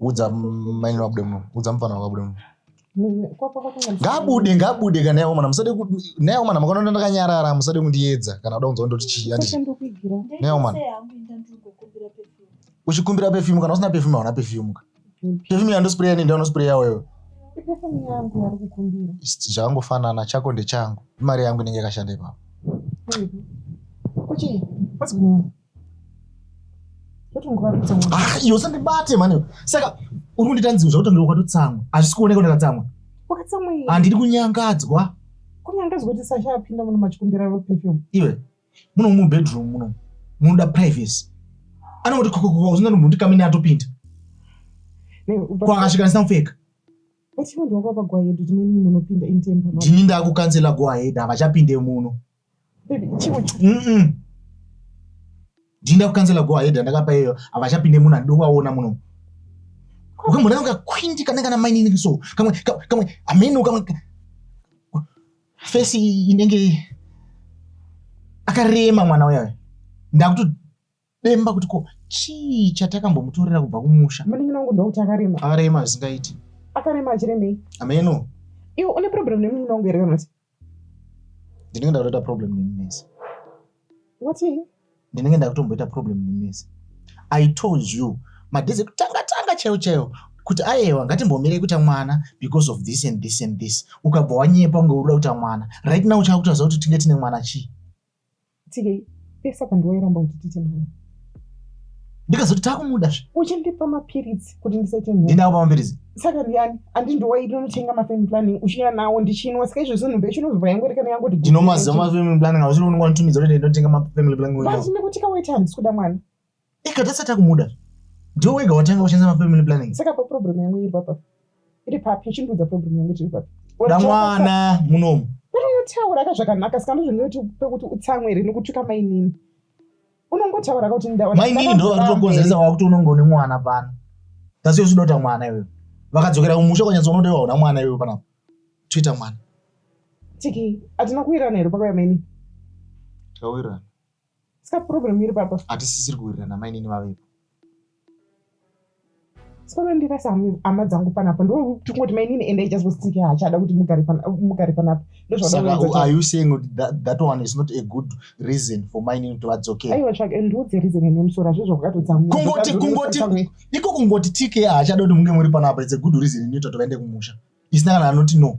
udza maini vabude muno udza mufana wakabude muno ngabude ngabude kana yaomana musade nayaomana makaona ndakanyarara musade kundiyedza kana uda kunzwa ndoti chii anditi nayaomana uchikumbira pefyumu kana usina pefyumu hauna pefyumu ka pefyumu yandospreya nenda unospreya wewe zvakangofanana chako ndechangu imari yangu inenge yakashanda ipapo Ah, iyo usandibate mhani saka uri kundiita nzivo zvakuti ndiri kwatotsamwa hazvisi kuoneka ndakatsamwa handiri kunyangadzwa kunyangadzwa kuti sasha apinda muno machikumbira vapefum iwe muno mubedroom muno munoda privacy anongoti kokokoko zvinda nombo ndi kamene atopinda kwakasvika ndisina kupfeka ndini ndakukansela go ahead havachapinde muno ndinda kukansela go ahead andakapa iyoyo havachapinde munhu andidi kuvaona muno ukamboda ukakwindi kana kana mainini so kamwe kamwe ameno kamwe fesi inenge akarema mwana uyayo ndakuto Bemba kuti ko chii chatakambomutorera kubva kumusha. Munin'ina wangu ndokuti akarema. Akarema zvisingaiti. Akarema achiremei? Ameno. Iwe une problem nemunin'ina wangu here kana kuti? Ndinenge ndakutoita problem nemi mese. What? Ndinenge ndakutomboita problem nemi mese. I told you madhezi kutanga tanga chaiwo chaiwo kuti ayewa ngatimbomire kuita mwana because of this and this and this ukabva wanyepa unge uda kuita mwana right now uchakutaza kuti tinge tine mwana chii Tigei, iye saka ndiwe wairamba kuti tite mwana. Ndikazoti takumuda zve. Uchindipa mapiritsi kuti ndisaite nhumbu. Ndindawo pamapiritsi. Saka ndiyani? Andi ndiwe waitonotenga mafamily planning uchiuya nawo ndichinwa saka izvo zvinhu becho unozobva yangu rekana yangu kuti. Ndinomaziva mafamily planning auchiri unonga nditumidza kuti ndinotenga mafamily planning. Basi nekuti kawaita handisi kuda mwana. Ika tasati takumuda. Ndiwe wega watanga kushandisa ma family planning. Saka pa problem yangu iri papa. Iri papi? Uchindiudza problem yangu iri papi? Da mwana munomu. Pero unotaura ka zvakanaka saka ndozvinoti pekuti utsamwe here nokutuka mainini. Unongotaura ka kuti ndaona. Mainini ndo vari kutokonzeresa wakuti unongo ne mwana pano. Tasiyo sudota mwana iwe. Vakadzokera kumusha kwanyatsa unodewa hona mwana iwe pano. Twitter mwana. Tiki, atina kuwirana here pakauya mainini? Tawirana. Ska problem iri papa. Hatisisiri kuwirirana mainini vavepo. Solo ndirasa hama dzangu panapa ndotingoti mainini ende just was thinking hachada kuti mugare panapa ndozvasaka are you saying kuti that, that one is not a good reason for mainini kuti vadzokere aiwa tsvake eh, ndiudze reason ine musoro hazvizvo vakatotsamua kungoti kungoti iko kungoti tk hachada kuti munge muri panapa it's a good reason inoita kuti vaende kumusha isina kana anoti no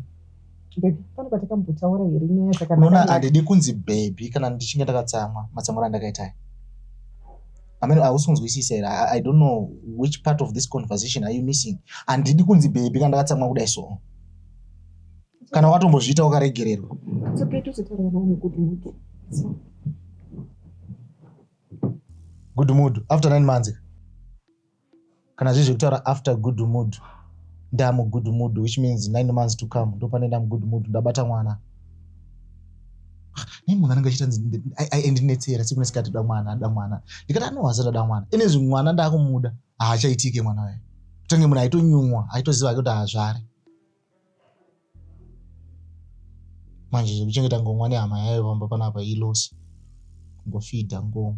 unoona handidi kunzi bhebhi kana ndichinge ndakatsamwa matsamwiro andakaita aya amene hausi kunzwisisa here i don't know which part of this conversation are you missing handidi kunzi bhebhi kana ndakatsamwa kudai so kana watombozviita wakaregererwa good mood after nine months Kana zviri zvekutaura after good mood ndamu good mood which means nine months to come ndopane ndamu good mood ndabata mwana nei munhu anenge achiita ndinetsera siku nesikati da mwana ada mwana ndikati anohwaza ndada mwana inezvi mwana ndakumuda haachaitike mwana waye kutange munhu aitonyumwa aitoziva ake kuti haazvare manje zvekuchengeta ngomwa nehama yayo pamba panapa ilosi kungofidha ngomwa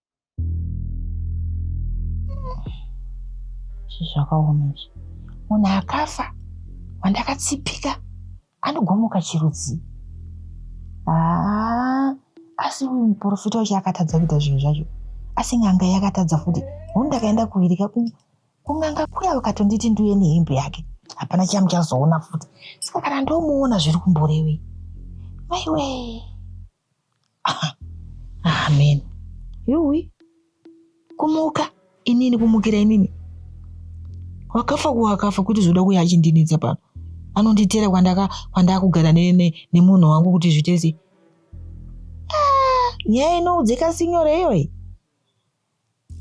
zvakaoma izvi munhu akafa wandakatsipika anogomuka chirudzii haa asi uyu muprofita wacho akatadza kuita zvinhu zvacho asi n'anga yakatadza futi huni ndakaenda kuvirika kun'anga kuya vakatonditi ndiuye nehembe yake hapana chiya muchazoona futi saka kana ndomuona zviri kumborevei maiwee Amen. Yuwi, kumuka inini, kumukira inini. Wakafa kuwakafa kuti zoda kuya achindinetsa pano. Anonditera kwandaka kwandakugara ne, ne, nemunhu wangu kuti zvitese. Ah, nyaya inoudzika sinyore iyoyi.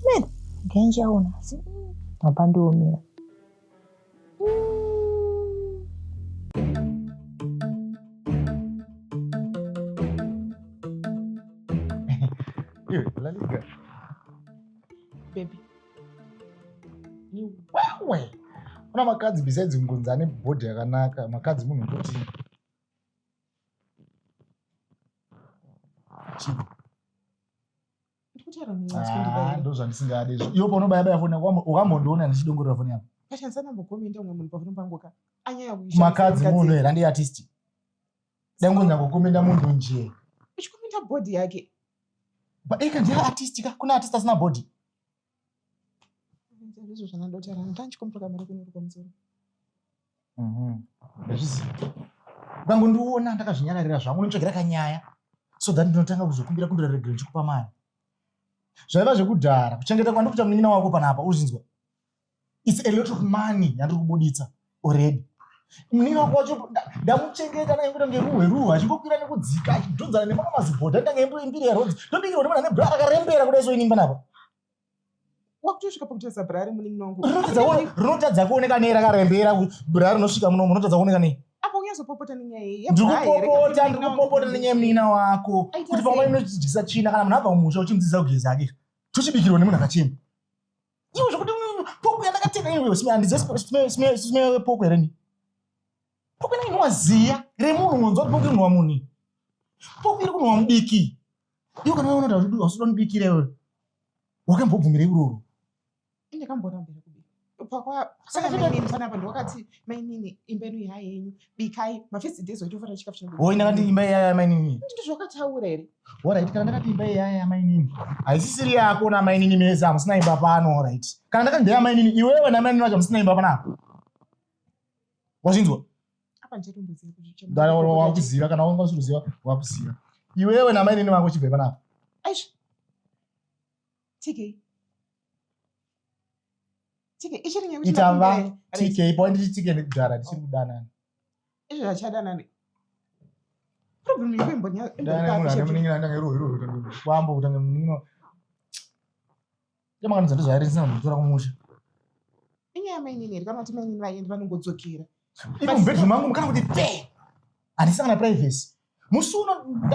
Man, genje aona asi baba ndiomira. Iwe, Lalika. Baby. Iwewe. Kuna makadzi besides kungonzi ane body yakanaka, makadzi munhu kuti Chief. Ah, ndozvandisingade izvo iwo paunobayabaya foni yako ukambondiona ndichidongorera foni yako pashandisa nambokomenda umwe munhu pafoni pangu ka anyaya kumakadzi munhu here handi artist dai ngonyangokomenda munhu nje uchikomenda body yake eka ndiye artist ka kuna artist asina body ndizvo zvanadota rani tandichikomboka mari kunorukwa musoro mhm. ndazviziva ukango ndiona ndakazvinyararira zvangu nditsvagira kanyaya so that ndinotanga kuzokumbira kumbira regre ndichikupa mari zvaiva zvekudhara kuchengeta kwandikuita munin'ina wako panapa uzinzwa its a lot of money yandiri kubuditsa already muningi wangu wacho ndamuchengeta ndange kuita kunge ruhwe ruhwe achingokwira nekudzika achidhonzana nemamwe mazibhodha ndange imbiri yarodzi ndodikirwa ndiona nebra rakarembera kuda iso inimba napa wakutosvika pakutadza bra ari muningi wangu rinotadza kuoneka nei rakarembera bra rinosvika munomu rinotadza kuoneka nei aponyazopopota nenyaya iyi ndikupopota ndikupopota nenyaya yemunina wako kuti pamwe inochidyisa china kana munhu abva mumusha uchimudzidzisa kugeza ake tochibikirwa nemunhu akachena iwe zvekuti mm, poku yandakatenga iweandizive poku here ni poku inenge inova ziya remunhu unonzwa kuti poku inova muni poku iri kunova mudiki iwe kana unoda kuti hausuda mudikira iwe wakambobvumira iroro indekamboona mberi kubika pakwa saka zvinoinzwa napa ndiwakati mainini imbenu ihayenyu bikai mafirst days waitofanira chikafu chinobika oh ndakati imba iya ya mainini ndizvo zvakataura here alright kana ndakati imba iya ya mainini haisisiri yako na mainini mese hamusina imba pano alright kana ndakati ndeya mainini iwewe na mainini vacho hamusina imba pano apo wazvinzwa wakuziva kana wanga usiruziva wakuziva iwewe na mainini vako chibve pano apo aisha tikei itava tk pawa nditi tk nekudhara ndichiri kudanana izvo vachadanani problem yako imbonyaambo kutange munin'ina yamakanidza ndozvaari ndisina kumbotora kumusha inyaya mainini here kana kuti mainini vaendi vanongodzokera ivo mubedroom mangu mukana kuti pe handisangana privacy musi uno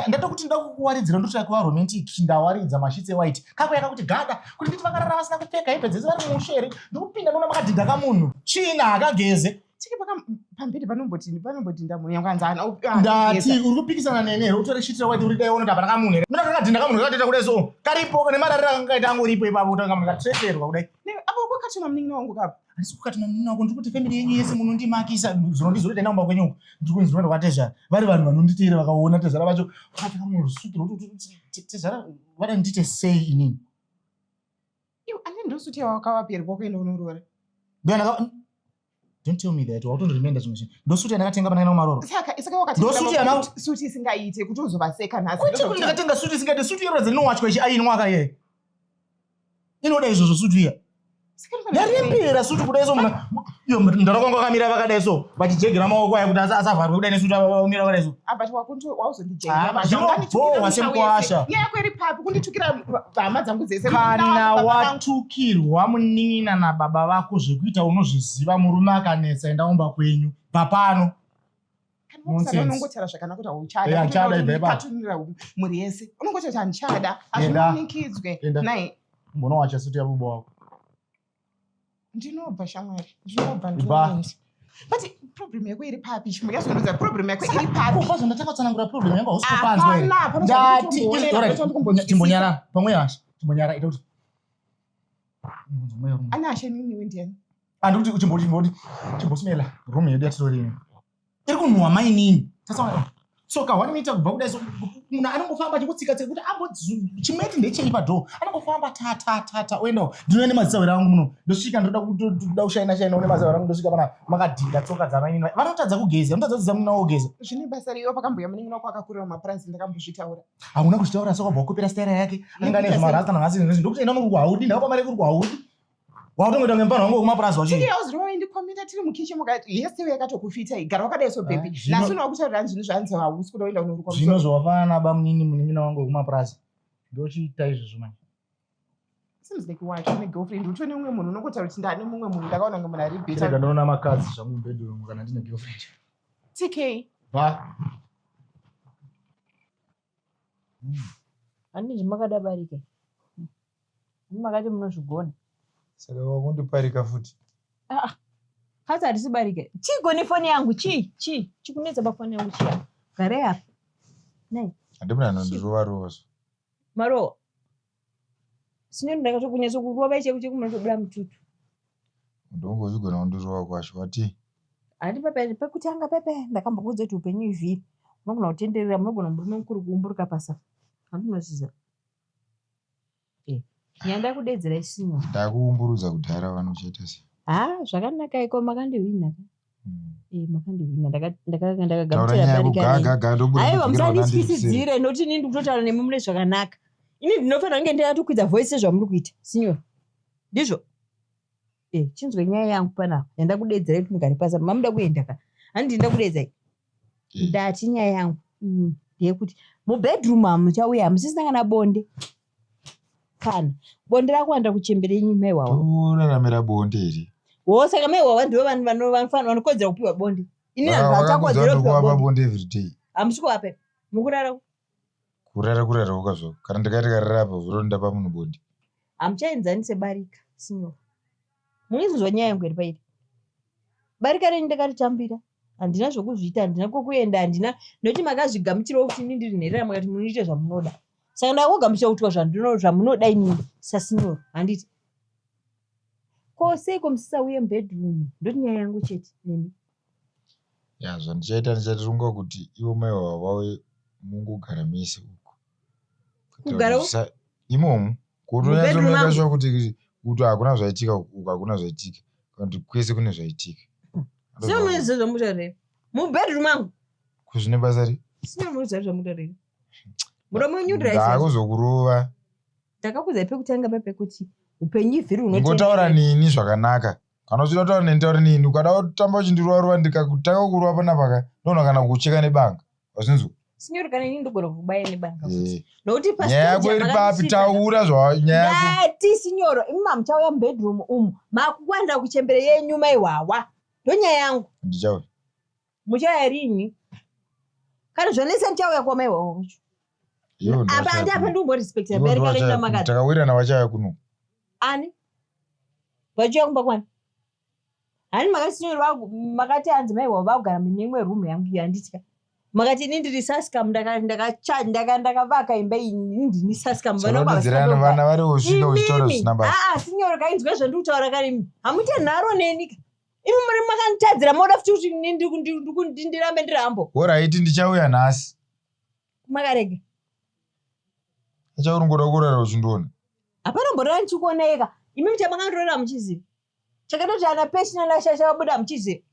ndatokuti kuti ndoda kukuwaridzira ndotoda kuva romantic ndawaridza mashitsi ewhite kakuya kakuti gada kuti nditi vakarara vasina kupfeka hembe dzese vari mumusha here ndikupinda ndoona makadhinda kamunhu china hakageze tiki pamberi panomboti panomboti ndamunhu yangu anzi ndati uri kupikisana nene here utore shitira wati uri daiona tapana kamunhu here mina kakadhinda kamunhu kakatoita kudai so karipo nemararira kangaita angu ripo ipapo utanga munhu katreterwa kudai apo kwakachema munin'ina wangu kapo asi kukati mamunini wako ndiri kuti family yenyu yese munondimakisa zuro ndizuro taenda kumba kwenyu ndiri kunzi ndoenda kwatezvara vari vanhu vanonditeera vakaona tezvara vacho vakapfeka munhu rusutu rwokuti tezvara vada ndiite sei inini iwe ane ndosuti yawakavaperi kwako ende unoroora ndoyandaka don't tell me that wautondoremenda zvimwe zvinhu ndosuti yandakatenga pandakaenda kumaroro saka saka wakati Ndosuti yana- suti isingaite kuti uzovaseka nhasi kuti kuti ndakatenga suti isingaite suti yororadza inowachwa ichi ainwa akaye inoda izvozvo sutu iya yarembera sutu kudai so muna iyo mdara kwanga akamira vakadai so vachijegera maoko aya kuti asavharwe kudai nesutu vamira vakadai so zvinobhohwa semukwasha kana watukirwa munin'ina nababa vako zvekuita unozviziva murume akanetsa enda umba kwenyu bva pano unongotaura zvakanaka kuti hauchadaakatunira mhuri yese unongotaura kuti handichada hazvimanikidzwe nai mbona wacha suti yabubo wako ndinobva shamwari ndinobva ndinoenda but problem yako iri papi chimwe yazondudza problem yako iri papi ubva zvondatanga kutsanangura problem yangu hausipanzwendatimbonyara pamwe hasha timbonyara ita kuti ane hasha nini wendiani and kuti chimboti chimboti chimbosmela room yedu yatitorimi iri kunhuwa mainini tasaona so ka wanoita kubva kudai so munhu anongofamba achikutsika tsika kuti ambo chimeti ndechei padhoo anongofamba ta ta ta ta oendawo ndinouya nemazisawera angu muno ndosvika ndoda kuda kushaina shaina une mazisawera angu ndosvika pana makadhinda tsoka dzamainini vanotadza kugeza vanotadza kuziza munhu naogeza zvine basa riyo pakambuya munini wako akakurira mapuranzi ndakambozvitaura hauna kuzvitaura so kwabva wakopera staira yake anenge ane zvimarasta nanhasi nezvi ndokuti enda unokuku haudi ndakapamare kuri kuhaudi Wakutongoita kunge mupana wangu wekumapurazi wacho. Tiri yawo zvinova indi komita tiri mukiche mukati yese uya katokufita igara wakadai so baby. Ah, Nasu na kutaura zvinhu zvanzi hausi kuda kuenda kunoruka. Zvino zvawafana na bamunini munin'ina wangu wekumapurazi. Ndochiita izvozvo manje. Seems like why tune girlfriend utone umwe munhu unokotaura kuti ndani mumwe munhu ndakaona kunge munhu ari better. Tiri ndinoona makadzi zvangu mubedroom kana ndine girlfriend. TK. Ba. Handiti makada barika imi. Imi makati munozvigona. Saka wakundiparika futi. Ah, ah. Hasi hatisi barika. Chiiko nefoni yangu? Chii? Chii? Chikunetsa pafoni yangu chii? Gare apa. Nei? Handimuna anondirova rova zvo. Marowa. Sinyoni ndakatokunyatso kurova icheko cheko munotobuda mututu. Ndongozvigona kundirova kwacho wati. Handi pepe pekutanga pepe ndakambokuudza kuti upenyu ivhiri unogona kutenderera munogona murume mukuru kuumburuka pasa. Handi unozviziva. Eh, nyanda kudedzera isinyoni. Ndakuumburudza kudhara vanochaita sei? Ha, zvakanaka iko makandihwina. Eh, makandihwina ndakagaaaiwa musanditwisidzire noti ini ndikutotaura nemi mune zvakanaka ini ndinofanira kunge ndatokwidza voice sezvamuri kuita sinyor ndizvo eh, chinzwe nyaya yangu panapa yanda kudedzera kuti mugare pasa mamuda kuenda ka handi nda kudedzai eh. ndati nyaya yangu mm, ndeyekuti mubedroom hamuchauya hamusisina kana bonde kana bonde rakuwanda kuchembere yenyu mai wawa toraramira bonde iri wo saka mai wawa ndivo vanhu vano- vanofana- vanokodzera kupiwa bonde ini vanhu vachakodzera kupiwa kuwapa bonde bonde everyday hamusi kuvape mukurara uku. kurara kurara woka zvako kana ndikaita karara apa vuro ndapa munhu bonde hamuchaenzani sebarika sinyoro Muri kunzwa nyaya yangu here pairi? Barika renyu ndakaritambira. Handina zvokuzviita, handina kwokuenda, handina nokuti makazvigamuchirawo kuti ini ndiri nherera mukati munoita zvamunoda. Saka ndakangogamuchira kutwa zvandino zvamunoda ini sasinoro, handiti? Ko seiko musisauye mubedroom? Ndoti nyaya yangu chete nemi. Ya zvandichaita ndichatirunga kuti ivo mai wavo vauye mungogara mese uko. kugara imomo kutoyaaasha kuti kuti hakuna zvaitika uku hakuna zvaitika kuti kwese kune zvaitika semuezezvamutaurei mubedroom angu kuzvine basa ri sinemuezazvamutaurei muromo wenyu ndaakuzokurova ndakakuzai pekutanga pepekuti upenyu ivhiri ungotaura nini zvakanaka kana uchida kutaura neni taura nini ukada kutamba uchindirova rova ndikakutanga kurova panapaka ndoona kana kucheka nebanga Wazvinzwa? Sinyori kana ini ndogona kuvubaya nebanga. Eh. Nokuti pa Nyaya yako stage iri papi? makandisvitsa. Taura zva nyaya yako. ndati sinyoro imi mamuchauya mubedroom umu makuwanira kuchembere yenyu maihwawa ndonyaya yangu Ndichauya. muchauya rini kana zvanetsa ndichauya kwa maihwawa wacho Ivo ndivo apa vachauya andi apa kuno. ndikumborespecta Ivo ndivo vabereki vachauya kuno. vakaita makadzi Takawirirana vachauya kuno. ani vachiuya kumba kwani Hani makasinyorerwa makati hanzi mai wavo vakugara mune imwe room yangu iyo handitya. Makati ini ndiri saskam ndaka ndaka cha ndaka ndakavaka imba iyi ini ndini saskam vana baba Sorodzera vasina vana vari usvika uchitaura Imimi. zvisina basa. Ah, ah, sinyoro kainzwe zvandiri kutaura kare imi hamuite nharo neni ka imi muri makanditadzira moda futi kuti ini ndiri kundi- ndiri kundi- ndirambe ndiri hambo Horaiti ndichauya nhasi. makarega Achauri ngoda kurara uchindiona. hapana mborora ndichikuoneka imi muchamakandorora muchiziva chakatoti ana pesi nana shasha vabuda hamuchizive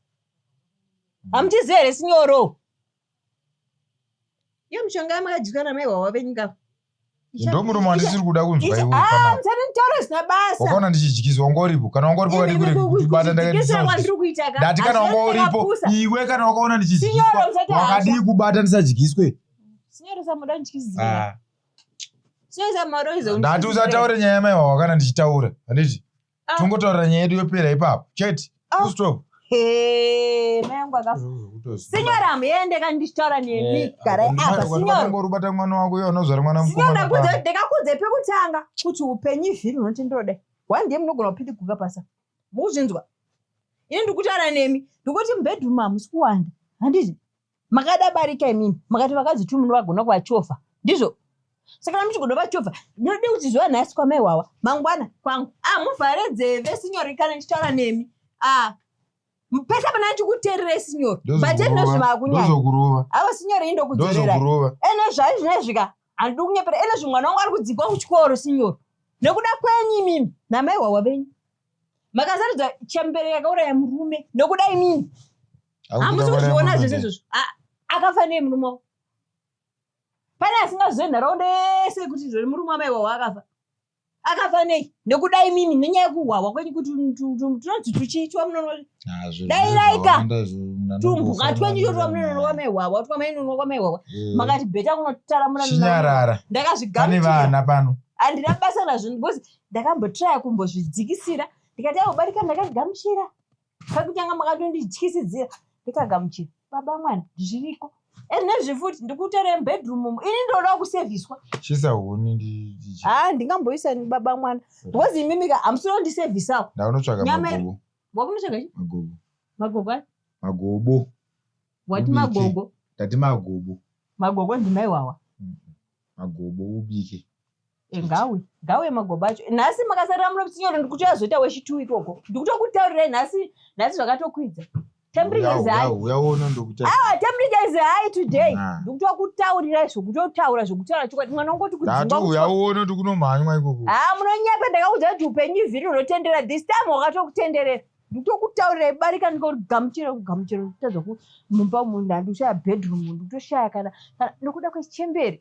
hamuchizive here sinyoro iyo mishonga yamakadyiswa namaihwawa venyika ndo murume wandisiri kuda kunzwa iwoamusatitaura ah, zvisina basa wakaona ndichidyisa wanga uripo kana wanga uripo kadikuribata ndakadati kana wanga uripo iwe kana wakaona ndichidyiswa wakadii kubata ndisadyiswe ah. ndati usataure nyaya yamaiwa wakana ndichitaura handiti Ah. tongotaurira nyaya yedu yopera ipapo chete Ah. Full stop. Hey, mai yangu akafa Kutoziva. sinyora hamuyende kani ndichitaura nemi Eh, garai Mwana apa wako sinyora angorubata mwana wako iye unozvara mwana sinyora mukomana ndakudze- pano. ndakakudze pekutanga kuti upenyu izviri unoti ndodai wandiye munogona kupitiguka pasa mukuzvinzwa ini ndikutaura nemi ndikuti mubedroom hamusi kuwanda handizvi Makada barika imimi makati vakadzi tu munovagona kuvachovha ndizvo saka namuchigona vachovha ndinode kuti zuva nhasi kwamai wawa mangwana kwangu ah muvhare dzeve sinyori kana ndichitaura nemi ah pese pana chikuterere sinyori but enozvimakunyaakurova avo sinyori indokudzorera enozvai zvinezvika handidi kunyepera enozvi mwana wangu ari kudzingwa kuchikoro sinyori nekuda kwenyu imimi namai wawa venyu makasarudza chambere yakauraya murume nokuda imini hamusi kuzviona zvese izvozvo akafa nei murume wavo pane asingazive nharaunda yese kuti zviri murume wamai wavo akafa akafa nei nekuda imimi nenyaya yekuhwahwa kwenyu kuti tinonzi tuchiitwa munono dai raika tumbwa twenyu totwa munonono kwamai hwahwa twa mainono kwamai hwahwa eh. makati bheta kunotaramura chinyarara ndakazvigane vana pano handina basa nazvo because ndakambotraya kumbozvidzikisira ndikati aobarika ndakazvigamuchira pakutanga makatondityisidzira ndikagamuchira baba mwana zviriko and nezvi futi ndikutere mubedroom umu ini ndinoda kusevhiswa chisa huni ndiha ah, ndingamboisa baba mwana because imimika hamusiro ndisevhisawo ndaunotsvaga magobo wakunotsvaga chi magobo magobo ai magobo wati magobo ndati magobo magobo ndimaiwawa magobo ubike egawe gawe magoba acho nhasi makasarira munomusinyoro ndikuti azoita wechitu ikoko ndikutokutaurirai nhasi nhasi zvakatokwidza tembrigaizihayi today ndikutokutaurirai zvokutotaura zvokutaura chokwadi mwana ungoti kudzingauyaona kuti kunomhanywa ikoko ha ah, munonyapa ndakaudza kuti upenyu ivhiri unotendera this time wakatokutenderera ndikutokutaurirai barika ndikogamuchira kugamuchira kutadza kumumba munhu handikushaya bedroom ndikutoshaya kana kana ndokuda kwechemberi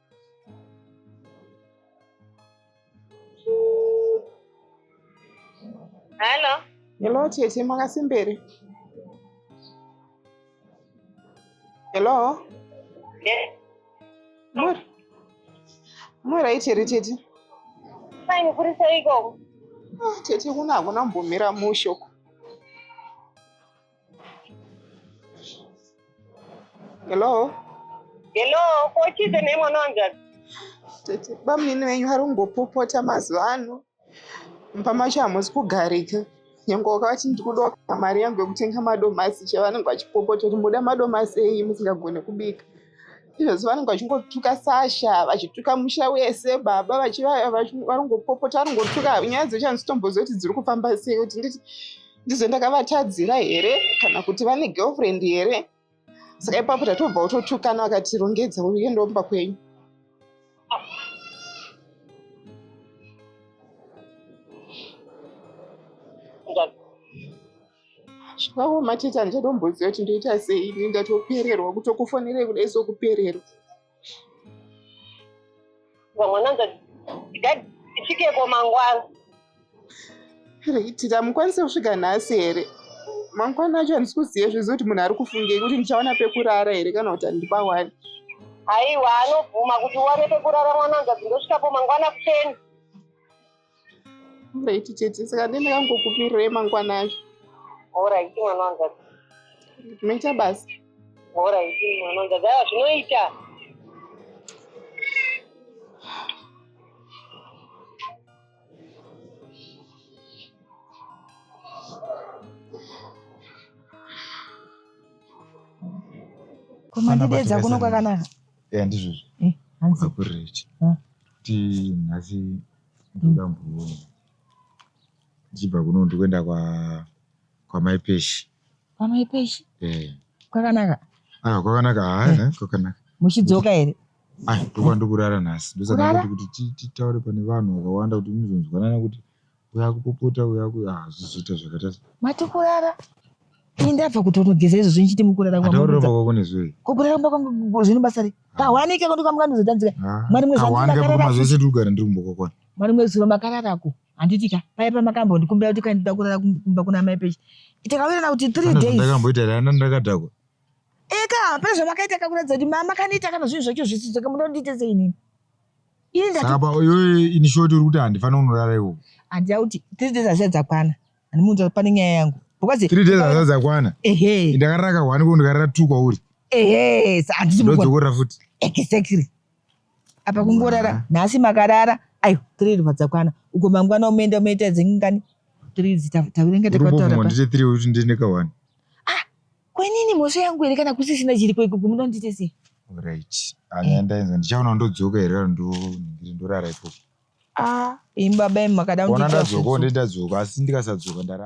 Hello. Hello tete makasimbere. Hello. Yeah. Mur. Mura ichiri tete. Fine kuri sei koko? Ah, tete kuna hakuna mbomira musho. hello hello ko chize nei mwana wanjani tete bamunini venyu vari kumbopopota mazuva ano mumba macho hamusi kugarika nyange wakavati ndiri kuda mari yangu yekutenga madomasi che vanenge vachipopota kuti muda madomasi eyi musingagone kubika izvozvi vanenge vachingotuka sasha vachituka musha wese baba varingopopota varingopota nyaya dzochanzi tombozoti dziri kufamba sei kuti nditi ndizo ndakavatadzira here kana kuti vane girlfriend here saka ipapo tatobva utotukana vakatirongedza uyendomba kwenyu zvavo mateta ndichatomboziva kuti ndoita sei ini ndatopererwa kutokufonerei kudai sokupererwa vamwananza tifikeko mangwana reitira mukwanise kusvika nhasi here mangwana acho handisi kuziva zvizi kuti munhu ari kufungei kuti ndichaona pekurara here kana kuti handipa wani haiwa anobvuma kuti uwane pekurara mwananza dzindosvikapo mangwana kuseni Right tete saka ndenda kangokumirira emangwana acho. Alright mwana wanga. Tinoita basa. Alright mwana wanga. Dai zvinoita. Koma ndidedza kuno kwakanaka. eya ndizvozvo Eh, hanzi kurechi Ah. kuti nhasi ndoda mbuoni ndichibva kuno ndikuenda kwa kwamai peshi pamai peshi Eh, kwakanaka ah kwakanaka haa kwakanaka muchidzoka here ah ndokwa ndokurara nhasi ndosaka Kurara? ndoti kuti ti- titaure pane vanhu vakawanda kuti muzonzwanana kuti Uya kupopota uya ku ah zvizoita zvakaita se. Mati kurara. Ini ndabva kutonogeza izvozvi ndichiti mukurara kwangu. Ataurira kumba kwako nezvei? Kukurara kumba kwangu zvine basa rei? Ah. Kahwanike kwangu kamwe kanozotanzika. Ah. Mwari mwezi wangu makarara. Zvese tiri kugara ndiri kumba kwako. Mwari mwezi zuro makararako. Handiti ka paya pamakambo ndikumbira kuti kandida kurara kumba kuna mai pechi. Takawirirana kuti 3 days. Ndakamboita rana ndakadhakwa. Eka pezvamakaita kakuratidza kuti mama kanoita kana zvinhu zvacho zvisizvo kamunoita sei nini? saka payoyo ini shoti uri kuti handifanira kunorara iwo handida kuti three days hazia dzakwana handimuudza kuti pane nyaya yangu because three days hazia dzakwana ehe ndakarara kahwani ko ndikarara two kwauri ehe handidzokorera futi exactly apa kungorara nhasi makarara ayo three riva dzakwana uko mangwana umeenda umeita dzengani three takurenga takautaura kuti ndine kahwani Kwenini mhosva yangu here kana kusisina chiripo iko kumuda undiite sei? Alright. Anya ndainza ndichaona ndodzoka here kana ndiri ndorara ipo. Ah, imi baba imi makada undiita. Ona ndadzoka ndadzoka asi ndikasadzoka ndarara.